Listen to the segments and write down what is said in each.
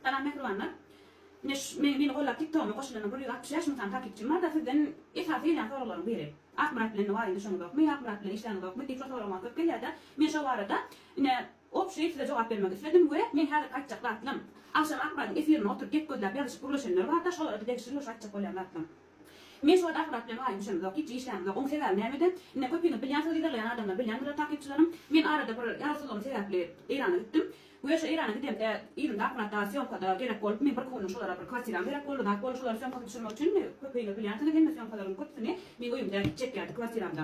Salam mähribanlar. Ine şu meni gollap tiktogyma goşulana bir ýüz altmyş bäş müň sany takypçym barda sizden esasy gelýän soraglaryň biri. Akmyrat bilen wagyn düşeňizokmy, Akmyrat bilen işläňizokmy diýip şo sorag maňa köp gelýärde men şo barada ine obşeý size jogap bermek isledim we meň häzirki aýtjak zatlam agşam Akmyradyň efirine oturyp gep gözläp ýazyşyp gürleşenler barda şolara bir degişli ýumuş aýtjak bolýan zatlam. Men şu wada Fyrap bilen aýym düşenimzok, hiç işlämizok. Oň sebäbi nämede? Ine, köpüňiz bilýänsiňiz, yzarlaýan adamlar bilýändirler, takykçylarym. Men arada bir ýarawsyzlygym sebäpli Eýrana gitdim. We şu Eýrana gidemde, yzymda akkuratda sýomkada gerek bolup, men bir günlük şolara bir kwartiram gerek boldy, zat boldy, şolary sýomka düşürmek üçin, indi köpüňiz bilýänsiňiz, hemme sýomkalaryň köpüsini men öýümde çekýärdi, kwartiramda.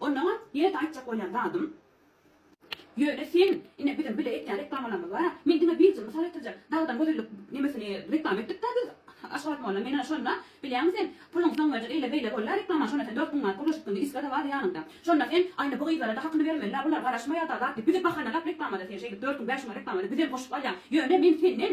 Onnoňam ýene-de aýtjak bolýan zadym. Ýöne sen, ine biziň bile etýän reklamalarymyz bar-a, men diňe birje mysal getirjek, dagdan gözellik nemesini reklama etdik-dä biz Aşgabat molla men ine şonda, bilýäňmi sen, puluň soňuňaja eýle-beýle boldy-a reklamany şonda sen dört müň manat pul urup gitdiň isga-da bardy ýanyňda. Şonda sen, aýna bu gyzlara-da hakyny bermeli-dä bular garaşmaýar-da zat diýip bize bahanalap reklamada sen şeýdip dört müň bäş müňe reklamada bizem goşup alýaň. Ýöne men senden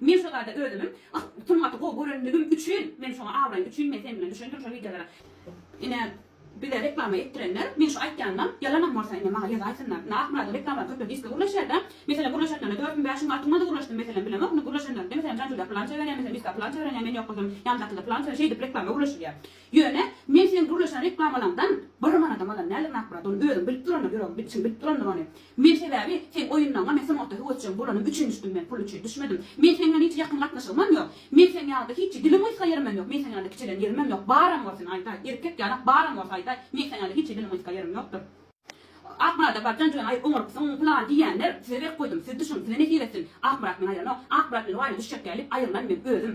Men şu zada özümim sungaty gowy görenligim üçin men şoňa abraýym üçin men sen bilen düşendirin şo wideolara ine bize reklama etdirenler men şu aýtýanymam ýalanam bolsa ine maňa ýazaýsynlar ine Akmyradyň reklamlary köpler diske gürleşýärda meselem gürleşenlerine dört gün bäş gün altyn günde gürleşdim meselem bilemok ine gürleşenlerine meselem Janjulýa pylança berýär meselem Miska pylança berenýär men ýok bolsam ýandakyda pylança şeýdip reklama gürleşilýär Ýöne, men seň gürleşen reklamalaňdan bir manadam alan däldirin Akmyrat, ony özüň bilip durandyr, ýüregiň bit çyn bilip durandyr ony. Men sebäbi, seň oýunlaňa men sungatda höwesjeň bolanym üçin düşdüm, men pul üçin düşmedim. Men seň bilen hiç ýakyn gatnaşygymam ýok. Men seň ýalyda hiç dilim gysga ýerimem ýok, men seň ýalyda kiçelen ýerimem ýok, baram bolsun aýdaý, erkek ýalak baram bolsa aýdaý, men seň ýalyda hiç dilim gysga ýerim ýokdur. Akmyrada barjaň jübüň aýyp oňarypsyň pylan diýýänler, size berk goýdum, siz düşüň, size nesip etsin. Akmyrat meni aýranok, Akmyrat meni waýda düşjek däl diýip aýrylan men özüm.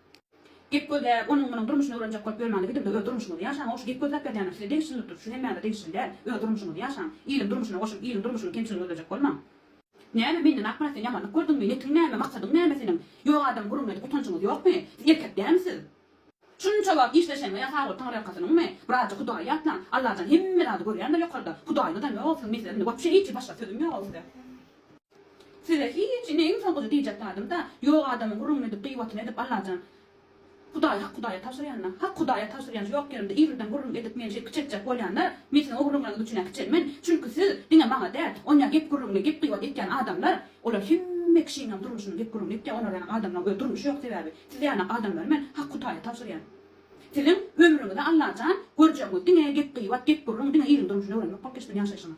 Gep gözle, onuň munuň durmuşyny öwrenjek bolup ýörmäne gidimde öz durmuşyňyzy ýaşaňok şu gep gözläp berýänler size degişlidir şu hemmäňe degişli däl öz durmuşyňyzy ýaşaň iliň durmuşyna goşulyp iliň durmuşynyň kemçiligini gözlejek bolmaň. Näme menden ak bilen sen ýamanlyk gördüňmi netiň näme maksadyň näme seniň ýok adam gürrüňledik utanjyňyz ýokmy siz erkek dämi siz şunça wagt işleşeňňe ýa sag bol taňryýalkasynyňmy birazja hudaýy ýatlaň Allajan hemme zady görýändir ýokarda hudaýyňyzam ýok siziň mesel indi bolup şeýçe başga sözüm ýok-ow size. Size hiç indi iň soňkusy diýjek zadym-da, ýok adamyň gürrüňini edip, gyýbatyny edip, Allajan, Hudaý, hak Hudaýa tabşyrýan-da, hak Hudaýa tabşyrýan şu ýok ýerimde irriden gürrüň edip meni şeýdip kiçeltjek bolýanlar, men siziň o gürrüňleriňiz üçin-ä kiçelmen, çünki siz diňe maňa däl, onýa gep-gürrüňini, gep-gyýbat etýän adamlar, olar hemme kişiniňem durmuşynyň gep-gürrüňini etýär, olar ýaly adamlaryň özi durmuşy ýok sebäbi, siz ýaly adamlary men hak Hudaýa tabşyrýan. Siziň ömrüňize Allajan, görjegiňiz diňe gep-gyýbat, gep-gürrüň, diňe iliň durmuşyny öwrenmek bolup geçsin ýaşaýşyňyz.